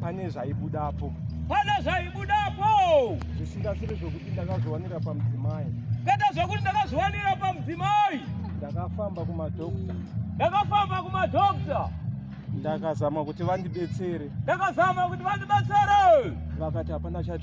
pane zvaibudapo pane zvaibudapo zvisingasiri zvokuti ndakazviwanira pamudzimai kwete zvokuti ndakazviwanira pamudzimai ndakafamba kumadokta ndakafamba kumadokta ndakazama kuti vandibetsere ndakazama kuti vandibetsere vakati hapana chat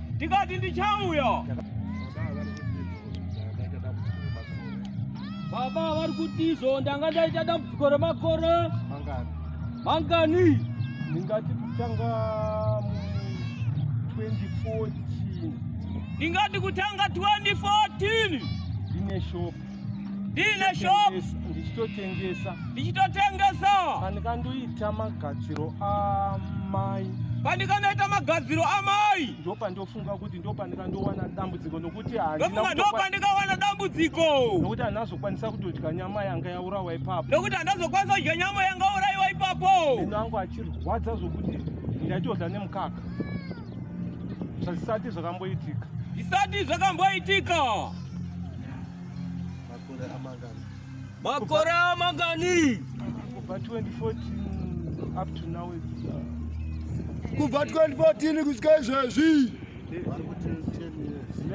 ndikati ndichauya baba vari kuti izvo ndanga ndaita dambudziko remakore mangani ndingati kutanga 2014 ndingati kutanga 2014 ndine shopu ndiine shop ndichitotengesa ndichitotengesa pandikandoita magadziro amai pandikanoita magadziro amai ndo pandofunga kuti ndo pandikandowana dambudziko nokuti ndofunga ndo pandikawana dambudziko nokuti handazokwanisa kutodya nyama yanga yaurawa ipapo nokuti handazokwanisa kudya nyama yanga uraiwa ipapo ino angu achirwadza zvokuti ndaitodya nemukaka zvazisati zvakamboitika zvisati zvakamboitika Makore amangani? Makore amangani? Kubva 2014 up to now it's uh, kubva 2014 kusvika izvezvi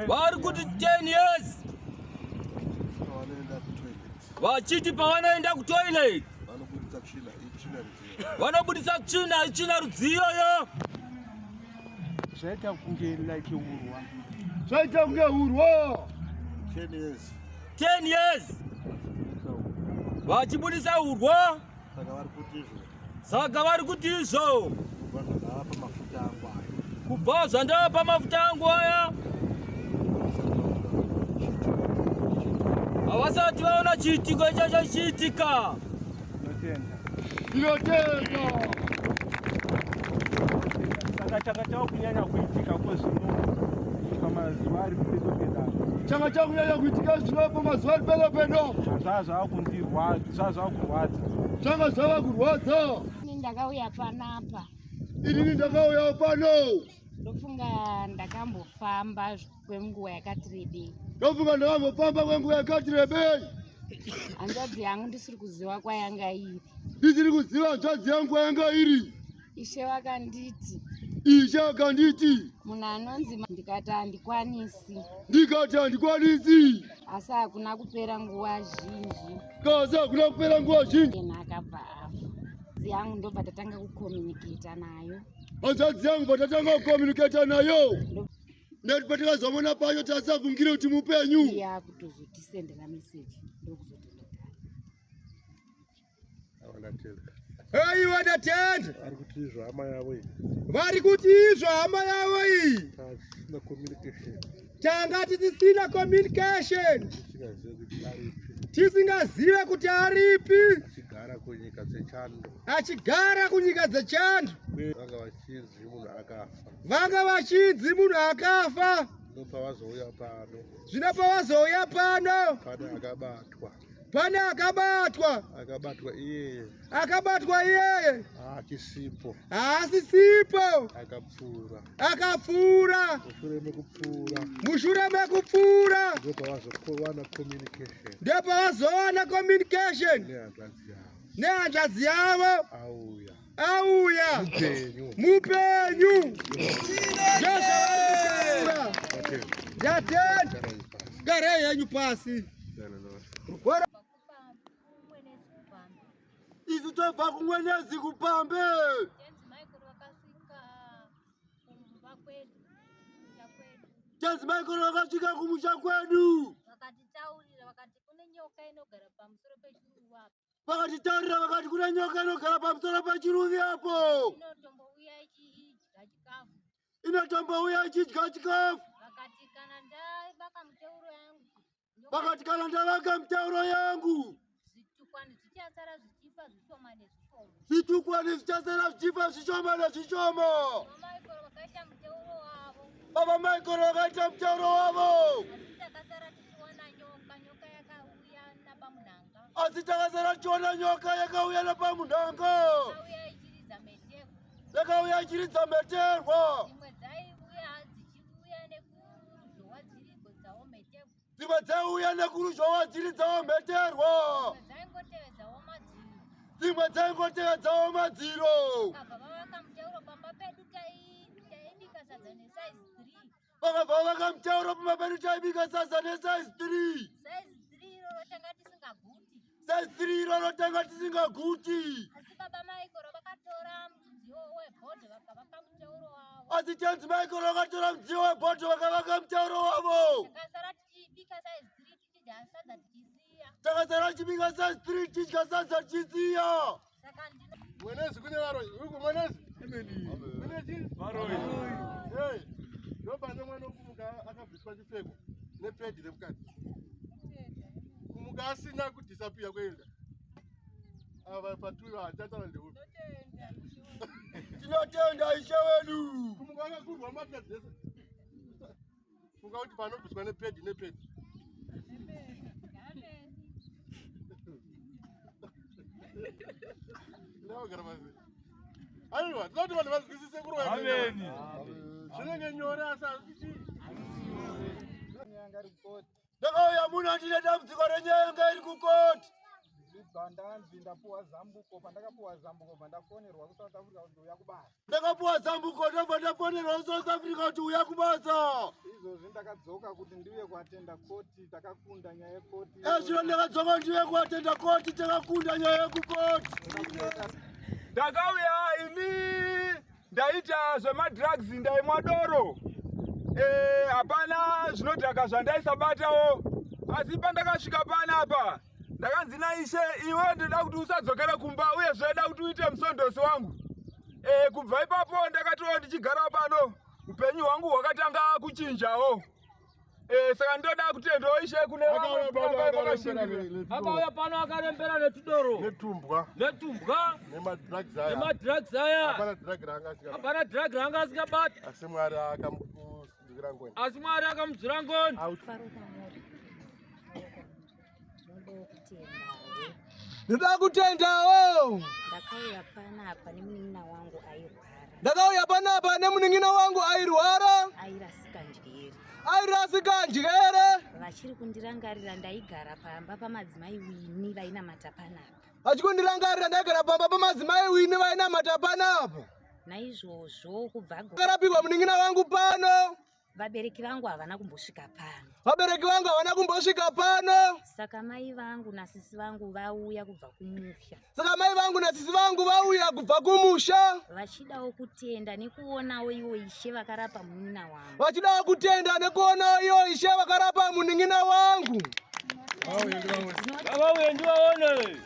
vari kuti 10 years vachiti pavanoenda kutoilet vanobudisa tsvina itsvina rudziyo yo zvaita kunge like urwa zvaita kunge urwa 10 years 10 years vachibudisa urwa saka vari kuti izvo saka vari kuti izvo kubva zvandavapa mafuta angu aya havasati vaona chiitiko ichacho chiitika Ndinotenda. Ndinotenda. Saka changa chava kunyanya kuitika kwezvino pamazuva ari pedo pedo changa chava kunyanya kuitika zvino pamazuva ari pedo pedo zvaa zvava kundirwadza zvaa zvava kurwadza zvanga zvava kurwadza ini ndakauya panapa inini ndakauya pano ndofunga ndakambofamba kwenguva yakati rebei ndofunga ndakambofamba kwenguva yakati rebei hanzvadzi yangu ndisiri kuziva kwayanga iri ndisiri kuziva hanzvadzi yangu kwayanga iri ishe vakanditi ishe vakanditi munhu anonzi ndikati handikwanisi ndikati handikwanisi asi hakuna kupera nguva zhinji kasi hakuna kupera nguva zhinji ena akabva afa hanzvadzi yangu ndobva tatanga kukomunikata nayo hanzvadzi yangu bva tatanga kukomunikata nayo nekuti patakazoona pacho tasavungire kuti mupenyu yakutozotisendera meseji ndokuzotenda Hey, what a tent! Vari kuti izvo hama yavo iyi. Vari kuti izvo hama yavo iyi. Tisina communication. Tanga tisina communication. Tisingazive kuti aripi. Achigara kunyika dzechando. Achigara kunyika dzechando. Chidzi munhu akafa. Vanga vachidzi munhu akafa. Zvino pavazouya pano. Zvino pavazouya pano. Pane akabatwa. Pane akabatwa. Akabatwa iyeye. Akabatwa iyeye. Haachisipo. Haasisipo. Akapfuura. Akapfuura. Mushure mekupfuura. Mushure mekupfuura. Ndipo pavazowana communication. Ndipo pavazowana communication. Nehanzvadzi yavo. Nehanzvadzi yavo. Auya. auya mupenyu garai yenyu pasi isu tobva kumwenezi kupambe tenzi maikoro vakasvika kumusha kwedu vakatitaurira vakati kune nyoka inogara pamusoro pechiruwapo vakatitarira vakati kuna nyoka inogara pamusoro pachiruvi apo inatombouya ichidya chikafu vakati kana ndavaka mutauro yangu vakati kana ndavaka mutauro yangu zvitukwani zvichasara zvichifa zvishoma nezvishoma zvitukwani zvichasara zvichifa zvishoma nezvishoma baba maikoro vakaita mutauro wavo asi takasara tichiona nyoka yakauya nepamunhanga yakauya ichiridza mheterwa dzimwe dzaiuya nekuruzhowa dziridzawo mheterwa dzimwe dzaingotevedzawo madziro Baba, vakabva vakamutaura pamba pedu taibika sasa nesize three size three iroro tanga tisingaguti asi tenzi maikoro vakatora mudziyo webhodho vakavaka mutauro wavo Because I did because I did. takazara chibika sa street chidya sadza chisiya mwenezi kune varoyi uku mwenezi ndopane mwana okumuka akabviswa chipfeko nepedi remukati kumuka asina kudhisapiya kuenda ava patuva hachatana ndeuti tinotenda ishe wedu kumuka akakurwa mbatya dzese funga kuti panobviswa nepedi nepedi ndavagara pasi aiwa tinoda kuti vanhu vanzwisise kuroameni zvinenge nyore asi hazvichii ndakauya muno andine dambudziko renyaya yanga iri kukoti ndibva ndanzi ndapuwa zambuko pandakapuwa zambuko bva ndafonerwa kusouth africa kuti uya kubasa ndakapuwa zambuko ndobva ndafonerwa kusouth africa kuti uya kubasa izvozvi ndakadzoka kuti ndiuye kuatenda koti takakunda nyaya yekoti ezvino eh, ndakadzoka kuti ndiuye kuatenda koti takakunda nyaya yekukoti ndakauya ini ndaita zvemadrugs ndaimwa doro eh, hapana e, zvinodhaka zvandaisabatawo asi pandakasvika panapa ndakanzi naishe iwe ndoda kuti usadzokere kumba uye zvoda kuti uite musondosi wangu e, kubva ipapo ndakatoo ndichigara pano upenyu hwangu hwakatanga kuchinjawo Eh, saka ndoda kuti ndoishe kune akauya pano akarembera netudoro netumbwa netumbwa nemadrugs aya nemadrugs aya hapana drug ranga asingabati hapana drug ranga asingabati asi mwari akamudzira ngoni asi mwari akamudzira ngoni Ndoda kutendawo. Ndakauya panapa nemunin'ina wangu airwara. Ndakauya panapa nemunin'ina wangu airwara. Airasika njere. Airasika njere. Vachiri kundirangarira ndaigara pamba pamadzimai wini vainamata panapa. Vachiri kundirangarira ndaigara pamba pamadzimai wini vainamata panapa. Naizvozvo kubva. Akarapirwa munin'ina wangu pano. Vabereki vangu havana kumbosvika pano. Vabereki vangu havana kumbosvika pano. Saka mai vangu nasisi vangu vauya kubva kumusha. Saka mai vangu nasisi vangu vauya kubva kumusha. Vachidawo kutenda nekuonawo iwo ishe vakarapa munin'ina wangu. Vachidawo kutenda nekuonawo iwo ishe vakarapa munin'ina wangu. Vauye ndivaone.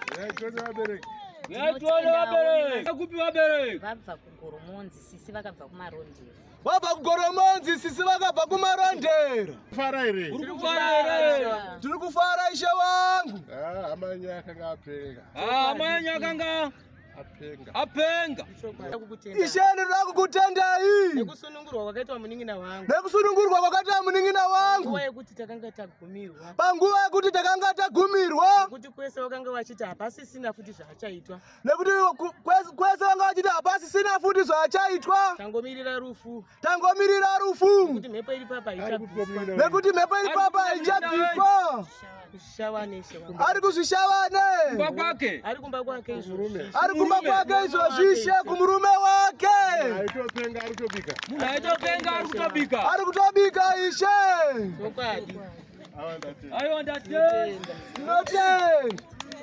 Vabereki. Vabva kugoromonzi sisi vakabva kumarondera. vabva kugoromonzi sisi vakabva kumarondera tiri kufara ishe wangu ah, amanyi akanga apenga ah, amanyi akanga apenga ishe ndinoda kukutendai nekusunungurwa kwakaitwa munin'ina wangu nekusunungurwa kwakaitwa munin'ina wangu panguva yekuti takanga tagumirwa panguva yekuti takanga tagumirwa kuti kwese vakanga vachiti hapasisina futi zvaachaitwa nekuti kwese vanga vachiti hapasisina futi zvachaitwa tangomirira rufu tangomirira rufu nekuti mhepo iri papa iri papa haichabviswa ari kuzvishavane ari kumba kwake izvozvishe kumurume wake ari kutobika ishe tinotenda